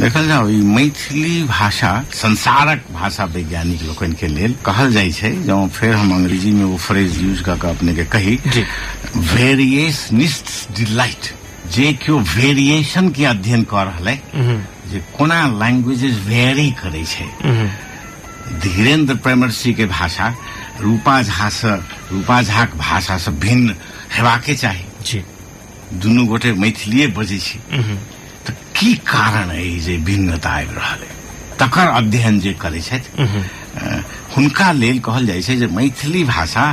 देखल जाउ ई मैथिली भाषा संसारक भाषा वैज्ञानिक लोकन के लेल कहल जाइ छै जँ फेर हम अंग्रेजी में वो फ्रेज यूज कऽ के अपने के कही वेरिएशनिस्ट डिलाइट जे केओ वेरिएशन के अध्ययन कऽ रहल है जे कोना लैंग्वेजेस वेरी करै छै धीरेन्द्र प्रेमर्षि के भाषा रूपा झा से रूपा झाक भाषा से भिन्न हेबाके चाही जी दुनू गोटे मैथिलीए बजै छी तऽ की कारण अइ जे भिन्नता आबि रहल अइ तकर अध्ययन जे करै छथि अ, हुनका लेल कहल जाइ छै जे मैथिली भाषा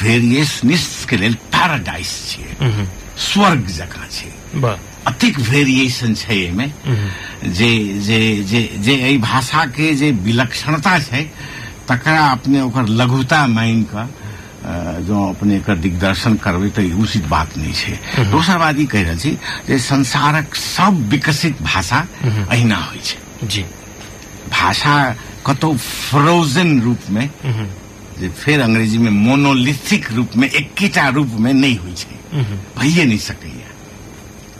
वेरिएशनिस के लेल पैराडाइस छियै स्वर्ग जकाँ छै वाह अतिक वेरिएशन छै एहिमे जे जे जे जे एहि भाषाके जे विलक्षणता छै तकरा अपने ओकर लघुता मानि कऽ जो अपने एकर दिग्दर्शन करबै तऽ ई उचित बात नहि छै दोसर बात ई कहि रहल छी जे संसारक सब विकसित भाषा अहिना होइ छै जी भाषा कतौ फ्रोजन रूपमे जे फेर अंग्रेजीमे मोनोलिथिक रूपमे एकेटा रूपमे नहि होइ छै भइए नहि सकैए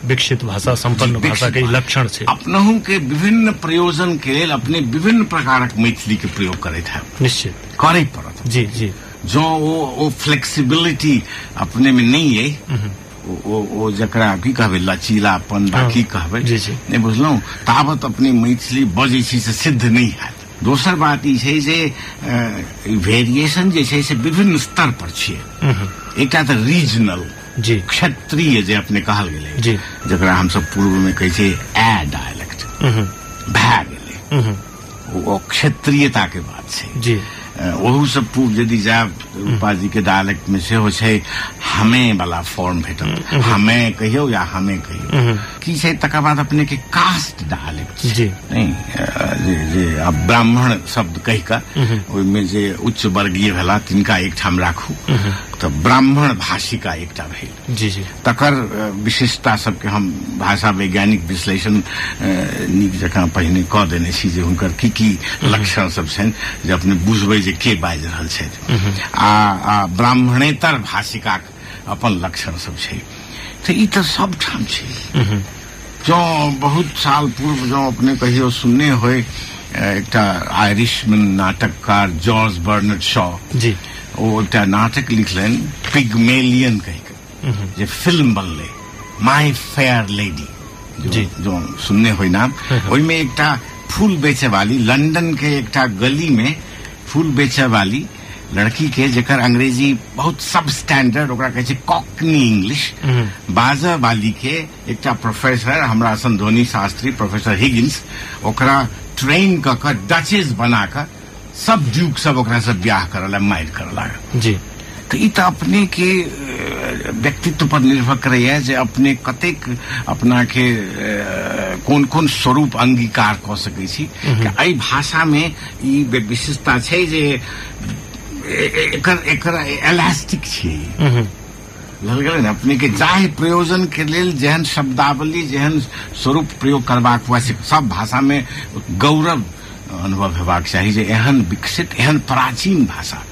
विकसित भाषा सम्पन्न जी, भाषा के विकसित ई लक्षण छै अपनहु के विभिन्न प्रयोजन के लेल अपने विभिन्न प्रकारक मैथिली के प्रयोग करैत है निश्चित करय पड़त जी जी जँ ओ ओ फ्लेक्सिबिलिटी अपने में नहीं है ओ- ओ ओ जकरा की कहबै लचीलापन बा हँ। की कहबै जी, जी। नहि बुझलहुँ ताबत अपने मैथिली बजै छी से सिद्ध नहि हैत दोसर बात ई छै जे वेरिएशन जे छै से विभिन्न स्तर पर छियै एकटा तऽ रीजनल जी क्षत्रिय जे अपने कहल गेलै जी जकरा हमसभ पूर्व में कहै छी ए डायलेक्ट उहुं, भए गेलै उहुं, ओ- ओ क्षेत्रीयता के बात छै जी अ, ओहू से पूर्व यदि जायब तऽ रूपा जी के डायलेक्ट में सेहो छै हमे वाला फॉर्म भेटत हमे कहियौ या हमे कहियौ उहुं, की छै तकर बाद अपने के कास्ट दहा लेब जी नहीं अ, जे जे आब ब्राह्मण शब्द कहि कऽ ओहिमे जे उच्च वर्गीय भेला तिनका एकठाम राखू तऽ ब्राह्मण भाषिका एकटा भेल जी जी तकर अ, विशेषता सबके हम भाषा वैज्ञानिक विश्लेषण अ, नीक जकाँ पहिने कऽ देने छी जे हुनकर की की लक्षण सब छनि जे अपने बुझबै जे के बाजि रहल छथि आ आ ब्राह्मणेतर भाषिकाक अपन लक्षण सब छै तऽ ई तऽ सब ठाम छै जँ बहुत साल पूर्व जँ अपने कहियो सुनने होय एकटा आयरिशमैन नाटककार जॉर्ज बर्नड शॉ जी ओ एकटा नाटक लिखलनि पिगमेलियन कहि कऽ जे फिल्म बनलै माय फेयर लेडी जी जो सुनने होय नाम हम्म, हम्म। ओहिमे एकटा फूल बेचे वाली लंदन के एकटा गली में फूल बेचे वाली लड़की के जेकर अंग्रेजी बहुत सब स्टैंडर्ड ओकरा कहै छै कॉकनी इंग्लिश बाजऽ वाली के एकटा प्रोफेसर हमरा सन धोनी शास्त्री प्रोफेसर हिगिंस ओकरा ट्रेन कऽ कऽ डचेस बना कऽ सब ड्यूक सब ओकरा से ब्याह करऽ ला मारि करऽ लागल जी तऽ ई तऽ अपने के अ, व्यक्तित्व पर निर्भर करैए जे अपने कतेक अपना के अ, कोन कोन स्वरूप अंगीकार कऽ सकै छी एहि भाषा मे ई विशेषता छै जे एकर एकर एलास्टिक छै ललगड़न अपने के जाहि प्रयोजन के लेल जेहन शब्दावली जेहन स्वरूप प्रयोग करबाक हुआ से सब भाषा में गौरव अनुभव हेबाक चाही जे एहन विकसित एहन प्राचीन भाषा